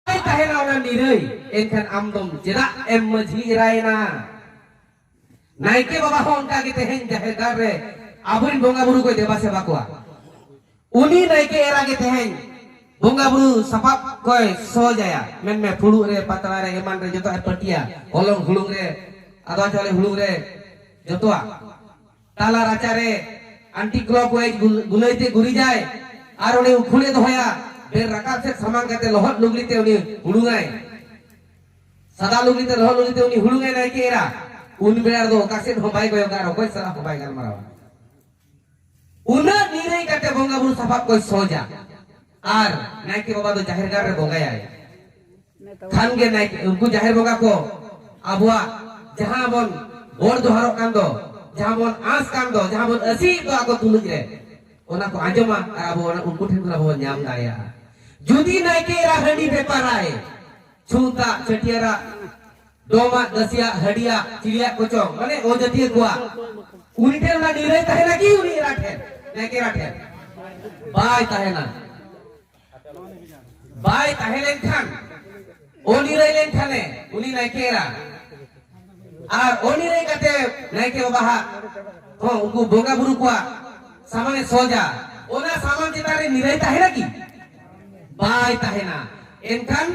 ᱛᱟᱦᱮᱱᱟ ᱚᱱᱟ ᱱᱤᱨᱟᱹᱭ ᱮᱱᱠᱷᱟᱱ ᱟᱢ ᱫᱚᱢ ᱪᱮᱫᱟᱜ ᱮᱢ ᱢᱟᱹᱡᱷᱤ ᱮᱨᱟᱭᱮᱱᱟ ᱱᱟᱭᱠᱮ ᱵᱟᱵᱟ ᱦᱚᱸ ᱚᱱᱠᱟ ᱜᱮ ᱛᱮᱦᱮᱧ ᱡᱟᱦᱮᱨ ᱜᱟᱲ ᱨᱮ ᱟᱵᱚᱨᱮᱱ ᱵᱚᱸᱜᱟ ᱵᱩᱨᱩ ᱠᱚᱭ ᱫᱮᱵᱟ ᱥᱮᱵᱟ ᱠᱚᱣᱟ ᱩᱱᱤ ᱱᱟᱭᱠᱮ ᱮᱨᱟ ᱜᱮ ᱛᱮᱦᱮᱧ ᱵᱚᱸᱜᱟ ᱵᱩᱨᱩ ᱥᱟᱯᱟᱵ ᱠᱚᱭ ᱥᱚᱡᱟᱭᱟ ᱢᱮᱱᱢᱮ ᱯᱷᱩᱲᱩᱜ ᱨᱮ ᱯᱟᱛᱲᱟ ᱨᱮ ᱮᱢᱟᱱ ᱨᱮ ᱡᱚᱛᱚ ᱯᱟᱹᱴᱤᱭᱟ ᱦᱚᱞᱚᱝ ᱦᱩᱲᱩᱝ ᱨᱮ ᱟᱫᱚ ᱪᱟᱣᱞᱮ ᱦᱩᱲᱩᱝ ᱨᱮ ᱡᱚᱛᱚᱣᱟᱜ ᱛᱟᱞᱟ ᱨᱟᱪᱟ ᱨᱮ ᱟᱱᱴᱤ ᱠᱞᱚᱠ ᱣᱟᱭᱤᱡ ᱜᱩᱞᱟᱹᱭ ᱛᱮ ᱜᱩᱨᱤᱡᱟᱭ ᱟᱨ ᱩᱱᱤ ᱩᱠᱷᱩᱲᱮ ᱫᱚᱦᱚᱭᱟ ᱵᱮᱨ ᱨᱟᱠᱟᱵ ᱥᱮᱫ ᱥᱟᱢᱟᱝ ᱠᱟᱛᱮ ᱞᱚᱦᱚᱫ ᱞᱩᱜᱽᱲᱤ ᱛᱮ ᱩᱱᱤ ᱦᱩᱲᱩᱝᱟᱭ ᱥᱟᱫᱟ ᱞᱩᱜᱽᱲᱤ ᱛᱮ ᱞᱚᱦᱚᱫ ᱞᱩᱜᱽᱲᱤ ᱛᱮ ᱩᱱᱤ ᱦᱩᱲᱩᱝᱟᱭ ᱱᱟᱭᱠᱮ ᱮᱨᱟ ᱩᱱ ᱵᱮᱲᱟ ᱫᱚ ᱚᱠᱟ ᱥᱮᱫ ᱦᱚᱸ ᱵᱟᱭ ᱠᱚᱭᱚᱜᱟ ᱟᱨ ᱚᱠᱚᱭ ᱥᱟᱞᱟᱜ ᱦᱚᱸ ᱵᱟᱭ ᱜᱟᱞᱢᱟᱨᱟᱣᱟ ᱩᱱᱟᱹᱜ ᱱᱤᱨᱟᱹᱭ ᱠᱟᱛᱮ ᱵᱚᱸᱜᱟ ᱵᱩᱨᱩ ᱥᱟᱯᱟᱵ ᱠᱚᱭ ᱥᱚᱡᱟ ᱟᱨ ᱱᱟᱭᱠᱮ ᱵᱟᱵᱟ ᱫᱚ ᱡᱟᱦᱮᱨ ᱜᱟᱲ ᱨᱮ ᱵᱚᱸᱜᱟᱭᱟᱭ ᱠᱷᱟᱱ ᱜᱮ ᱱᱟᱭᱠᱮ ᱩᱱᱠᱩ ᱡᱟᱦᱮᱨ ᱵᱚᱸᱜᱟ ᱠᱚ ᱟᱵᱚᱣᱟᱜ ᱡᱟᱦᱟᱸ ᱵᱚᱱ ᱵᱚᱲ ᱡᱚᱦᱟᱨᱚᱜ ᱠᱟᱱ ᱫᱚ ᱡᱟᱦᱟᱸ ᱵᱚᱱ ᱟᱸᱥ ᱠᱟᱱ ᱫᱚ ᱡᱟᱦᱟᱸ ᱵᱚᱱ ᱟᱹᱥᱤᱭᱮᱫ ᱫᱚ ᱟᱠᱚ ᱛᱩᱞᱩᱡ ᱨᱮ ᱚᱱᱟ ᱠᱚ ᱟᱸᱡᱚᱢᱟ ᱟᱨ ᱟᱵᱚ ᱚᱱᱟ ᱩᱱᱠᱩ ᱴᱷᱮᱱ ᱠᱷᱚᱱ ᱟᱵᱚ ᱵᱚᱱ ᱧᱟᱢ ᱫᱟᱲᱮᱭᱟᱜᱼᱟ ᱡᱩᱫᱤ ᱱᱟᱭᱠᱮ ᱮᱨᱟ ᱦᱟᱺᱰᱤ ᱵᱮᱯᱟᱨᱟᱭ ᱪᱷᱩᱸᱛᱟᱜ ᱪᱷᱟᱹᱴᱭᱟᱹᱨᱟᱜ ᱰᱚᱢᱟ ᱫᱟᱥᱤᱭᱟ ᱦᱟᱹᱰᱤᱭᱟ ᱪᱤᱞᱤᱭᱟ ᱠᱚᱪᱚ ᱢᱟᱱᱮ ᱚ ᱡᱟᱹᱛᱤᱭᱟᱹ ᱠᱚᱣᱟ ᱩᱱᱤ ᱴᱷᱮᱱ ᱚᱱᱟ ᱱᱤᱨᱟᱹᱭ ᱛᱟᱦᱮᱱᱟ ᱠᱤ ᱩᱱᱤ ᱮᱨᱟ ᱴᱷᱮᱱ ᱱᱟᱭᱠᱮ ᱮᱨᱟ ᱴᱷᱮᱱ ᱵᱟᱭ ᱛᱟᱦᱮᱱᱟ ᱵᱟᱭ ᱛᱟᱦᱮᱸ ᱞᱮᱱᱠᱷᱟᱱ ᱚ ᱱᱤᱨᱟᱹᱭ ᱞᱮᱱᱠᱷᱟᱱᱮ ᱩᱱᱤ ᱱᱟᱭᱠᱮ ᱮᱨᱟ ᱟᱨ ᱚ ᱱᱤᱨᱟᱹᱭ ᱠᱟᱛᱮ ᱱᱟᱭᱠᱮ ᱵᱟᱵᱟ ᱦᱟᱜ ᱦᱚᱸ ᱩᱱᱠᱩ ᱵᱚᱸᱜᱟ ᱵᱩᱨᱩ ᱠᱚᱣᱟ ᱥᱟᱢᱟᱱᱮ ᱥᱚᱡᱟ ᱚᱱᱟ ᱥᱟᱢᱟᱱ ᱪᱮᱛᱟᱱ ᱨᱮ ᱱᱤᱨᱟᱹᱭ ᱛᱟᱦᱮᱱᱟ ᱠᱤ ᱵᱟᱭ ᱛᱟᱦᱮᱱᱟ ᱮᱱᱠᱷᱟᱱ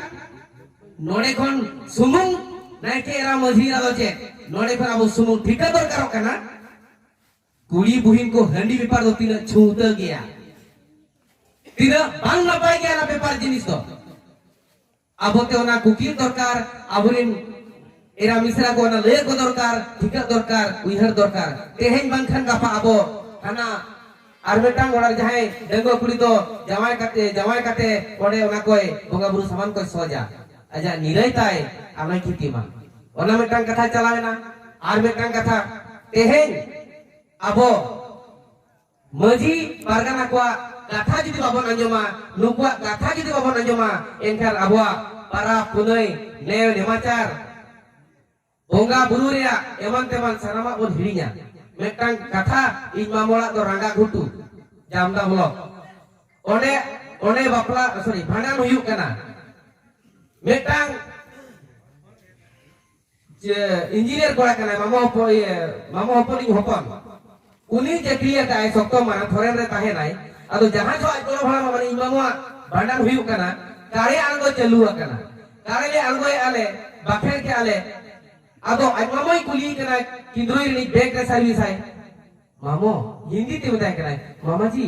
ᱱᱚᱰᱮ ᱠᱷᱚᱱ ᱥᱩᱢᱩᱝ ᱱᱟᱭᱠᱮ ᱮᱨᱟ ᱢᱟᱹᱡᱷᱤ ᱮᱨᱟ ᱫᱚ ᱪᱮᱫ ᱱᱚᱰᱮ ᱠᱷᱚᱱ ᱟᱵᱚ ᱥᱩᱢᱩᱝ ᱴᱷᱤᱠᱟᱹ ᱫᱚᱨᱠᱟᱨᱚᱜ ᱠᱟᱱᱟ ᱠᱩᱲᱤ ᱵᱩᱦᱤᱱ ᱠᱚ ᱦᱟᱺᱰᱤ ᱵᱮᱯᱟᱨ ᱫᱚ ᱛᱤᱱᱟᱹᱜ ᱪᱷᱩᱸᱛᱟᱹ ᱜᱮᱭᱟ ᱛᱤᱱᱟᱹᱜ ᱵᱟᱝ ᱱᱟᱯᱟᱭ ᱜᱮᱭᱟ ᱚᱱᱟ ᱵᱮᱯᱟᱨ ᱡᱤᱱᱤᱥ ᱫᱚ ᱟᱵᱚᱛᱮ ᱚᱱᱟ ᱠᱩᱠᱞᱤ ᱫᱚᱨᱠᱟᱨ ᱟᱵᱚᱨᱮᱱ ᱮᱨᱟ ᱢᱤᱥᱨᱟ ᱠᱚ ᱚᱱᱟ ᱞᱟᱹᱭ ᱠᱚ ᱫᱚᱨᱠᱟᱨ ᱴᱷᱤᱠᱟᱹ ᱫᱚᱨᱠᱟᱨ ᱩᱭᱦᱟᱹᱨ ᱫᱚᱨᱠᱟর ᱛᱮᱦᱮᱧ ᱵᱟᱝᱠᱷᱟᱱ ᱜᱟᱯᱟ ᱟᱵᱚ ᱦᱟᱱᱟ ᱟᱨ ᱢᱤᱫᱴᱟᱝ ᱚᱲᱟᱜ ᱡᱟᱦᱟᱸᱭ ᱰᱟᱺᱜᱩᱣᱟᱹ ᱠᱩᱲᱤ ᱫᱚ ᱡᱟᱶᱟᱭ ᱠᱟᱛᱮ ᱡᱟᱶᱟᱭ ᱠᱟᱛᱮ ᱚᱸᱰᱮ ᱚᱱᱟ ᱠᱚᱭ ᱵᱚᱸᱜᱟ ᱵᱩᱨᱩ ᱥᱟᱢᱟᱱ ᱠᱚᱭ ᱥᱚᱡᱟ ᱟᱡᱟᱜ ᱱᱤᱨᱟᱹᱭ ᱛᱟᱭ ᱟᱞᱚᱭ ᱠᱷᱤᱛᱤ ᱢᱟ ᱚᱱᱟ ᱢᱤᱫᱴᱟᱝ ᱠᱟᱛᱷᱟ ᱪᱟᱞᱟᱣᱮᱱᱟ ᱟᱨ ᱢᱤᱫᱴᱟᱝ ᱠᱟᱛᱷᱟ ᱛᱮᱦᱮᱧ ᱟᱵᱚ ᱢᱟᱹᱡᱷᱤ ᱯᱟᱨᱜᱟᱱᱟ ᱠᱚᱣᱟᱜ ᱠᱟᱛᱷᱟ ᱡᱩᱫᱤ ᱵᱟᱵᱚᱱ ᱟᱸᱡᱚᱢᱟ ᱱᱩᱠᱩᱣᱟᱜ ᱠᱟᱛᱷᱟ ᱡᱩᱫᱤ ᱵᱟᱵᱚᱱ ᱟᱸᱡᱚᱢᱟ ᱮᱱᱠᱷᱟᱱ ᱟᱵᱚᱣᱟᱜ ᱯᱟᱨᱟᱵᱽ ᱯᱩᱱᱟᱹᱭ ᱱᱮᱣ ᱱᱮᱢᱟᱪᱟᱨ ᱵᱚᱸᱜᱟ ᱵᱩᱨᱩ ᱨᱮᱭᱟᱜ ᱮᱢᱟᱱ ᱛᱮᱢᱟᱱ ᱥᱟᱱᱟᱢᱟᱜ ᱵᱚᱱ ᱦᱤᱲᱤᱧᱟ ᱢᱤᱫᱴᱟᱝ ᱠᱟᱛᱷᱟ ᱤᱧ ᱢᱟᱢ ᱚᱲᱟᱜ ᱫᱚ ᱨᱟᱸᱜᱟ ᱜᱷᱩᱴᱩ ᱡᱟᱢᱫᱟ ᱵᱞᱚᱠ ᱚᱸᱰᱮ ᱚᱸᱰᱮ ᱵᱟᱯᱞᱟ ᱥᱚᱨᱤ ᱵᱷᱟᱸᱰᱟᱱ ᱦᱩᱭᱩᱜ ᱠᱟᱱᱟ ᱢᱤᱫᱴᱟᱝ ᱡᱮ ᱤᱧᱡᱤᱱᱤᱭᱟᱨ ᱠᱚᱲᱟ ᱠᱟᱱᱟᱭ ᱢᱟᱢᱟ ᱦᱚᱯᱚᱱ ᱢᱟᱢᱟ ᱦᱚᱯᱚᱱᱤᱧ ᱦᱚᱯᱚᱱ ᱩᱱᱤ ᱪᱟᱹᱠᱨᱤ ᱟᱠᱟᱫᱟᱭ ᱥᱚᱠᱛᱚ ᱢᱟᱨᱟᱝ ᱯᱷᱚᱨᱮᱱ ᱨᱮ ᱛᱟᱦᱮᱱᱟᱭ ᱟᱫᱚ ᱡᱟᱦᱟᱸ ᱡᱚ ᱟᱡ ᱜᱚᱲᱚ ᱵᱷᱟᱲᱟ ᱢᱟᱢᱟ ᱤᱧ ᱢᱟᱢᱟ ᱵᱷᱟᱸᱰᱟᱱ ᱦᱩᱭᱩᱜ ᱠᱟᱱᱟ ᱠᱟᱨᱮ ᱟᱬᱜᱚ ᱪᱟᱹᱞᱩ ᱟᱠᱟᱱᱟ ᱠᱟᱨᱮ ᱞᱮ ᱟᱬᱜᱚᱭᱮ ᱟᱞᱮ ᱵᱟᱠᱷᱮᱲ ᱠᱮ ᱟᱞᱮ ᱟᱫᱚ ᱟᱡ ᱢᱟᱢᱟᱭ ᱠᱩᱞᱤ ᱠᱟᱱᱟ ᱠᱤᱸᱫᱽᱨᱩᱭ ᱨᱤᱱᱤᱡ ᱵᱮᱜᱽ ᱨᱮ ᱥᱟᱨᱵᱷᱤᱥ ᱟᱭ ᱢᱟᱢᱚ ᱦᱤᱱᱫᱤ ᱛᱮ ᱢᱮᱛᱟᱭ ᱠᱟᱱᱟᱭ ᱢᱟᱢᱟ ᱡᱤ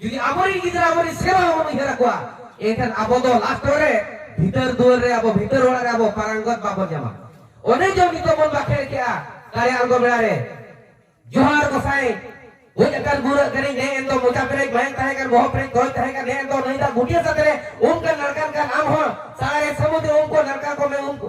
ᱡᱩᱫᱤ ᱟᱵᱚᱨᱮᱱ ᱜᱤᱫᱽᱨᱟᱹ ᱟᱵᱚᱨᱮᱱ ᱥᱮᱨᱣᱟ ᱵᱚᱱ ᱩᱭᱦᱟᱹᱨ ᱟᱠᱚᱣᱟ ᱮᱱᱠᱷᱟᱱ ᱟᱵᱚ ᱫᱚ ᱞᱟᱥᱴ ᱨᱮ ᱵᱷᱤᱛᱟᱹᱨ ᱫᱩᱣᱟᱹᱨ ᱨᱮ ᱟᱵᱚ ᱵᱷᱤᱛᱟᱹᱨ ᱚᱲᱟᱜ ᱨᱮ ᱟᱵᱚ ᱯᱟᱨᱟᱝᱜᱚᱛ ᱵᱟᱵᱚᱱ ᱧᱟᱢᱟ ᱚᱱᱮ ᱡᱚ ᱱᱤᱛᱚᱜ ᱵᱚᱱ ᱵᱟᱠᱷᱮᱲ ᱠᱮᱜᱼᱟ ᱫᱟᱲᱮ ᱟᱬᱜᱚ ᱵᱮᱲᱟ ᱨᱮ ᱡᱚᱦᱟᱨ ᱜᱚᱥᱟᱭ ᱜᱚᱡ ᱟᱠᱟᱱ ᱜᱩᱨᱟᱹᱜ ᱠᱟᱹᱱᱟᱹᱧ ᱱᱮ ᱮᱱ ᱫᱚ ᱢᱚᱪᱟ ᱯᱮᱨᱮᱡ ᱢᱟᱭᱟᱝ ᱛᱟᱦᱮᱸ ᱠᱟᱱ ᱵᱚᱦᱚᱜ ᱯᱮᱨᱮᱡ ᱠᱚᱭ ᱛᱟᱦᱮᱸ ᱠᱟᱱ ᱱᱮ ᱮᱱ ᱫᱚ ᱱᱟᱹᱭ ᱫᱟᱜ ᱜᱩᱴᱤᱭᱟᱹ ᱥᱟᱛᱮ ᱨᱮ ᱩᱢ ᱠᱟᱱ ᱱᱟᱲᱠᱟᱱ ᱠᱟᱱ ᱟᱢ ᱦᱚᱸ ᱥᱟᱲᱟᱨᱮ ᱥᱟᱹᱢᱩᱫᱽ ᱨᱮ ᱩᱢ ᱠᱚ ᱱᱟᱲᱠᱟ ᱠᱚ ᱢᱮ ᱩᱢ ᱠᱚ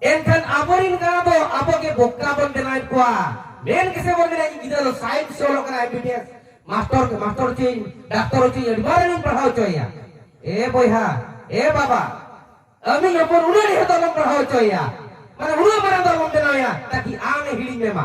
ᱮᱱᱠᱷᱟᱱ ᱟᱵᱚᱨᱤᱱ ᱜᱟᱬᱟ ᱫᱚ ᱟᱵᱚ ᱜᱮ ᱵᱚᱠᱛᱟ ᱵᱚᱱ ᱵᱮᱱᱟᱣᱮᱫ ᱠᱚᱣᱟ ᱢᱮᱱ ᱜᱮᱥᱮ ᱵᱚᱱ ᱢᱮᱱᱟ ᱤᱧ ᱜᱤᱫᱽᱨᱟᱹ ᱫᱚ ᱥᱟᱭᱮᱱᱥ ᱮ ᱚᱞᱚᱜ ᱠᱟᱱᱟ ᱮᱢᱵᱤᱵᱤᱮᱥ ᱢᱟᱥᱴᱚᱨ ᱢᱟᱥᱴᱚᱨ ᱪᱮᱧ ᱰᱟᱠᱛᱚᱨ ᱪᱮᱧ ᱟᱹᱰᱤ ᱢᱟᱨᱟᱝ ᱤᱧ ᱯᱟᱲᱦᱟᱣ ᱦᱚᱪᱚᱭᱮᱭᱟ ᱮ ᱵᱚᱭᱦᱟ ᱮ ᱵᱟᱵᱟ ᱟᱹᱢᱤ ᱦᱚᱯᱚᱱ ᱩᱱᱟᱹᱜ ᱰᱷᱮᱨ ᱫᱚ ᱟᱞᱚᱢ ᱯᱟᱲᱦᱟᱣ ᱦᱚᱪᱚᱭᱮᱭᱟ ᱢᱟᱱᱮ ᱩᱱᱟᱹᱜ ᱢᱟᱨᱟᱝ ᱫᱚ ᱟᱞᱚᱢ ᱵᱮᱱᱟᱣᱮᱭᱟ ᱛᱟᱠᱤ ᱟᱢ ᱮ ᱦᱤᱲᱤᱧ ᱢᱮᱢᱟ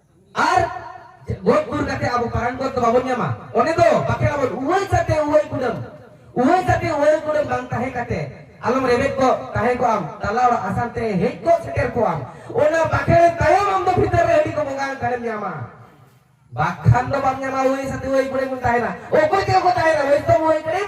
ᱟᱨ ᱜᱚᱡ ᱜᱩᱨ ᱠᱟᱛᱮ ᱟᱵᱚ ᱯᱟᱨᱟᱱ ᱜᱚᱡ ᱫᱚ ᱵᱟᱵᱚᱱ ᱧᱟᱢᱟ ᱚᱱᱮ ᱫᱚ ᱵᱟᱠᱷᱮ ᱟᱵᱚ ᱩᱣᱟᱹᱭ ᱠᱟᱛᱮ ᱩᱣᱟᱹᱭ ᱠᱩᱰᱟᱹᱢ ᱩᱣᱟᱹᱭ ᱠᱟᱛᱮ ᱩᱣᱟᱹᱭ ᱠᱩᱰᱟᱹᱢ ᱵᱟᱝ ᱛᱟᱦᱮᱸ ᱠᱟᱛᱮ ᱟᱞᱚᱢ ᱨᱮᱵᱮᱫ ᱠᱚ ᱛᱟᱦᱮᱸ ᱠᱚ ᱟᱢ ᱛᱟᱞᱟ ᱚᱲᱟᱜ ᱟᱥᱟᱱ ᱛᱮ ᱦᱮᱡ ᱠᱚ ᱥᱮᱴᱮᱨ ᱠᱚ ᱟᱢ ᱚᱱᱟ ᱵᱟᱠᱷᱮ ᱨᱮ ᱛᱟᱭᱚᱢ ᱟᱢ ᱫᱚ ᱵᱷᱤᱛᱟᱹᱨ ᱨᱮ ᱦᱟᱺᱰᱤ ᱠᱚ ᱵᱚᱸᱜᱟ ᱠᱟᱱᱮᱢ ᱧᱟᱢᱟ ᱵᱟᱠᱷᱟᱱ ᱫᱚ ᱵᱟᱢ ᱧᱟᱢᱟ ᱩᱣᱟᱹᱭ ᱥᱟᱛᱮ ᱩᱣᱟᱹᱭ ᱠᱩᱰᱟᱹᱢ ᱛᱟᱦᱮᱱᱟ ᱚᱠᱚᱭ ᱛᱮ ᱚᱠᱚᱭ ᱛᱟᱦᱮᱱᱟ ᱦᱚᱭᱛᱚ ᱩᱣᱟᱹᱭ ᱠᱩᱰᱟᱹᱢ